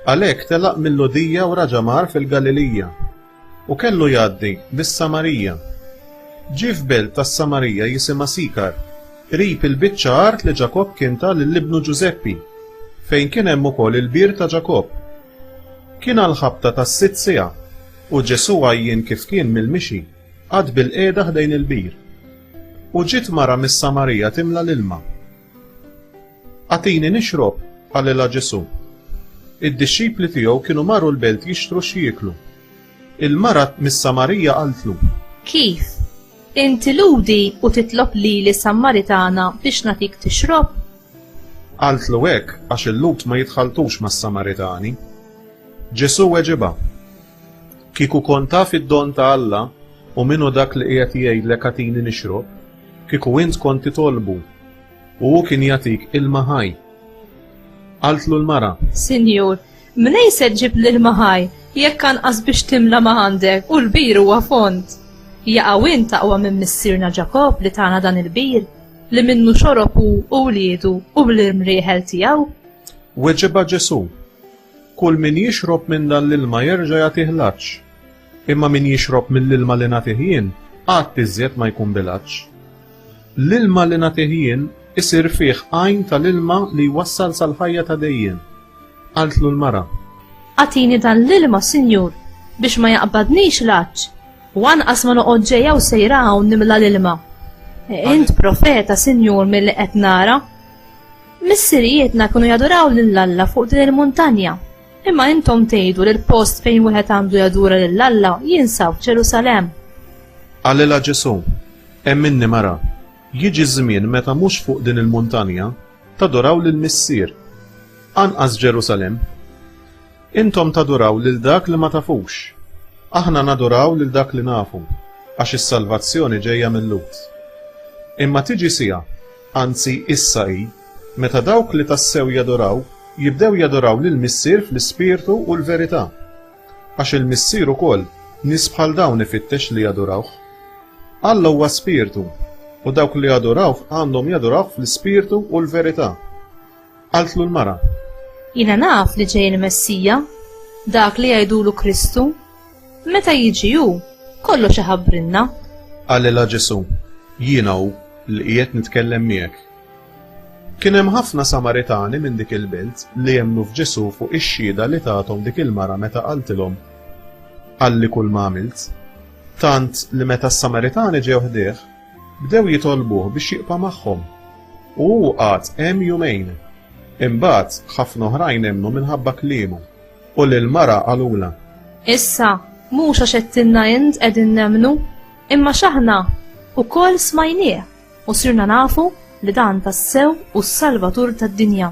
Għalhekk telaq mill-Lhudija u raġa' mar fil-Galilija, u kellu jgħaddi bis-Samarija. Ġie f'belt tas-Samarija jisimha Sikar, qrib il-biċċa art li Ġakobb kien ta lil ibnu Ġużeppi, fejn kien hemm ukoll il-bir ta' Ġakobb. Kien għall-ħabta tas-sitt siegħa, u Ġesù għajjien kif kien mill-mixi, qagħad bilqiegħda ħdejn il-bir. U ġiet mara mis-Samarija timla l-ilma. Agħtini nixrob, qalilha Ġesù. Id-dixxipli tiegħu kienu marru l-belt jixtru xi jieklu. Il-mara mis-Samarija qaltlu. Kif? Inti Lhudi u titlob lili Samaritana biex nagħtik tixrob? Qaltlu hekk għax il-Lhud ma jitħalltux mas-Samaritani. Ġesù weġibha. Kieku kont taf id-don ta' Alla u min hu dak li qiegħed jgħidlek agħtini nixrob, kieku int kont titolbu, u hu kien jagħtik ilma ħaj. Qaltlu l-mara. Sinjur, mnejn se ġġib l-ilma ħaj, jekk anqas biex timla ma għandek, u l-bir huwa fond? Jaqaw int aqwa minn missierna Ġakobb li tana dan il-bir, li minnu xorob hu u wliedu u l-irmrieħel tiegħu? Weġibha Ġesù. Kull min jixrob minn dan l-ilma jerġa' jagħtih l-għatx. Imma min jixrob mill-ilma li nagħtih jien, qatt iżjed ma jkun bil-għatx. L-ilma li nagħtih jien isir fih għajn tal-ilma li jwassal sal-ħajja ta' dejjem. Qaltlu l-mara. Agħtini dan l-ilma, Sinjur, biex ma jaqbadnix l-għatx, u anqas ma noqgħod ġejja u sejra hawn nimla l-ilma. Int profeta, Sinjur, milli qed nara. Missirijietna kienu jaduraw lil Alla fuq din il-muntanja. Imma intom tgħidu li l-post fejn wieħed għandu jadura lil Alla jinsab f'Ġerusalemm. Qalilha Ġesù, Hemm minni mara, jiġi żmien meta mhux fuq din il-muntanja taduraw lill-Missier, anqas Ġerusalemm. Intom taduraw lil dak li ma tafux. Aħna naduraw lil dak li nafu, għax is-salvazzjoni ġejja mil-Lhud. Imma tiġi siegħa anzi issa hi, meta dawk li tassew jadoraw jibdew jadoraw lill-Missier fl-ispirtu u l-verità. Għax il-Missier ukoll nies bħal dawn ifittex li jadurawh. Alla huwa spirtu, u dawk li jadurawh għandhom jadurawh fl-ispirtu u l-verità. Qaltlu l-mara. Jiena naf li ġej il-Messija, dak li jgħidulu Kristu. Meta jiġi hu, kollox iħabbrilna. Qalilha Ġesù, Jiena hu li qiegħed nitkellem miegħek. Kien hemm ħafna Samaritani minn dik il-belt li emmnu f'Ġesù fuq ix-xhieda li tathom dik il-mara meta qaltilhom, Qalli kulma għamilt. Tant li meta s-Samaritani ġew ħdieh, bdew jitolbuh biex jibqa' magħhom. U hu qagħad hemm jumejn. Imbagħad, ħafna oħrajn emmnu minħabba kliemu. U lill-mara qalulha. Issa, mhux għax għedtilna int qegħdin nemmnu, imma x'aħna wkoll smajnieh u sirna nafu li dan tassew hu s-Salvatur tad-dinja.